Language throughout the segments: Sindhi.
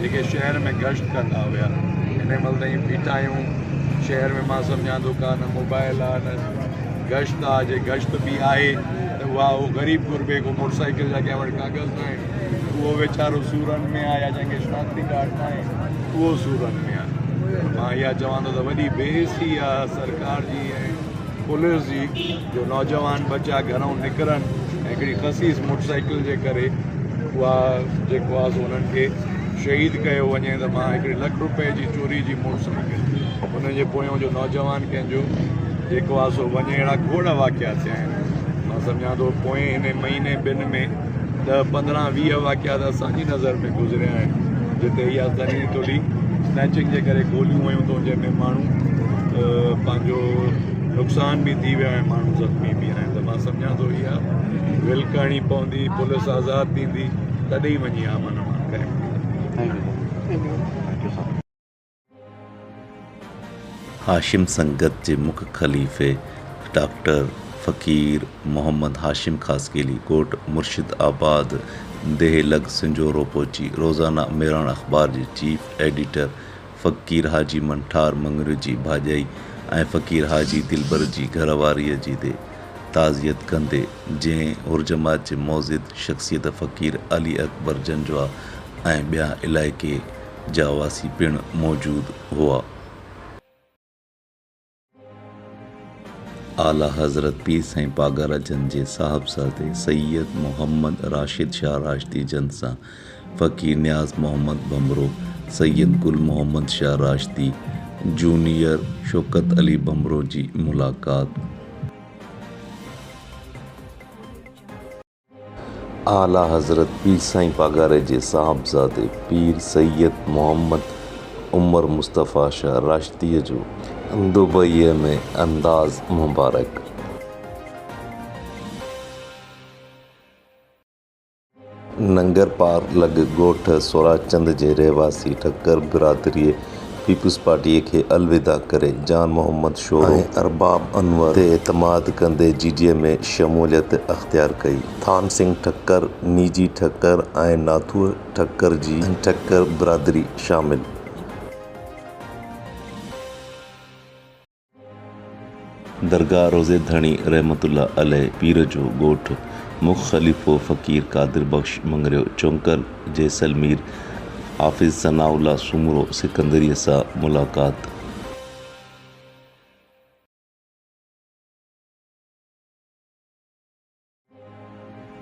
جيڪي شهر ۾ گشت ڪندا هيا هن مهل تائين بيٺا آهيون شهر ۾ مان سمجهان ٿو ڪا نه موبائل آ نه گشت آ جي گشت به آهي ته اها اهو غريب غربي کو موٽر سائيڪل جا ڪنهن وٽ ڪاغذ نه آهن اهو ويچارو سورن ۾ آ يا جنهن کي شناختي ڪارڊ نه آهي اهو سورن ۾ آ مان اها چوان ٿو ته وڏي بي حسي آ سرڪار جي ۽ پوليس جي جو نوجوان ٻه چار گهرائون نڪرن ۽ هڪڙي خسيس موٽر سائيڪل جي ڪري اها جيڪو آهي سو انهن کي شهيد ڪيو وڃي ته مان هڪڙي لک روپئي جي چوري جي موٽر سائيڪل ان جي پويان جو نوجوان ڪنهن جو جيڪو آهي سو وڃي اهڙا کوڙ واقعا ٿيا آهن مان سمجهان ٿو پوئين هن مهيني ٻن ۾ ڏهه پندرهن ويهه واقعا ته اسان جي نظر ۾ گذريا آهن جتي اها ذريعي تولي اسنيچنگ جي ڪري گوليون ويون اٿئون جنهن ۾ ماڻهو پنهنجو نقصان به ٿي ويا ۽ ماڻهو زخمي به آهن ته مان سمجهان ٿو اها ول ڪرڻي پوندي پوليس آزاد ٿيندي تڏهن ئي وڃي امن امان قائم ٿيندو هاشم سنگت جي مک خليفي ڊاڪٽر فقير محمد هاشم خاصخيلي ڪوٽ مرشد آباد ديهه لڳ سنجهورو پهچي روزانه مهراڻ اخبار جي چيف ايڊيٽر فقير حاجي منٺار مڱريو جي ڀاڄائي ۽ فقير حاجي دلبر جي گهر واريء جي دي تعزيت ڪندي جنهن حرجماعت جي معزز شخصيت فقير علي اڪبر جنجوعا ۽ ٻيا علائقي جا واسي پڻ موجود هئا. اعليٰ حضرت پير سائين پاڳارا جن جي صاحبزادي سيد محمد راشد شاهه راشدي جن سان فقير نياز محمد ڀنڀرو، سيد گل محمد شاهه راشدي، جونيئر شوڪت علي ڀنڀرو جي ملاقات. اعليٰ حضرت پير سائين پاڳاري جي صاحبزادي پير سيد محمد عمر مصطفيٰ شاهه راشديء جو دبئيء ۾ انداز مبارڪ. ننگرپار لڳ ڳوٺ سوراچند جي رهواسي ٺڪر برادريء پيپلز پارٽيء کي الوداع ڪري جان محمد شورو ۽ ارباب انور تي اعتماد ڪندي جي ڊي اي ۾ شموليت اختيار ڪئي. ٿان سنگهه ٺڪر، نيجي ٺڪر ۽ ناٿوء ٺڪر جي ٺڪر برادري شامل. درگاهه روضي ڌڻي رحمت الله عليه پير جو ڳوٺ، مک خليفو فقير قادر بخش مڱريو چونڪل، جيسلمير، حافظ ثناء الله سومرو سڪندريء سان ملاقات.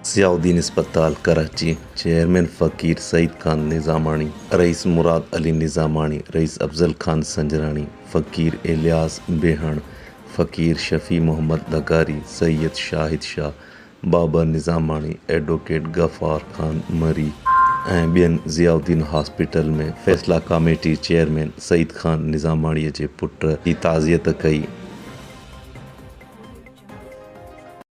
ضياء الدين اسپتال ڪراچي، چيئرمين فقير سعيد خان نظاماڻي، رئيس مراد علي نظاماڻي، رئيس افضل خان سنجراڻي، فقير الياس بيهڻ، فقير شفيع محمد لغاري، سيد شاهد شاهه، بابا نظاماڻي، ايڊووڪيٽ غفار خان مري ۽ ٻين ضياء الدين هاسپيٽل ۾ فيصلا ڪاميٽي چيئرمين سعيد خان نظاماڻي جي پٽ جي تعزيت ڪئي.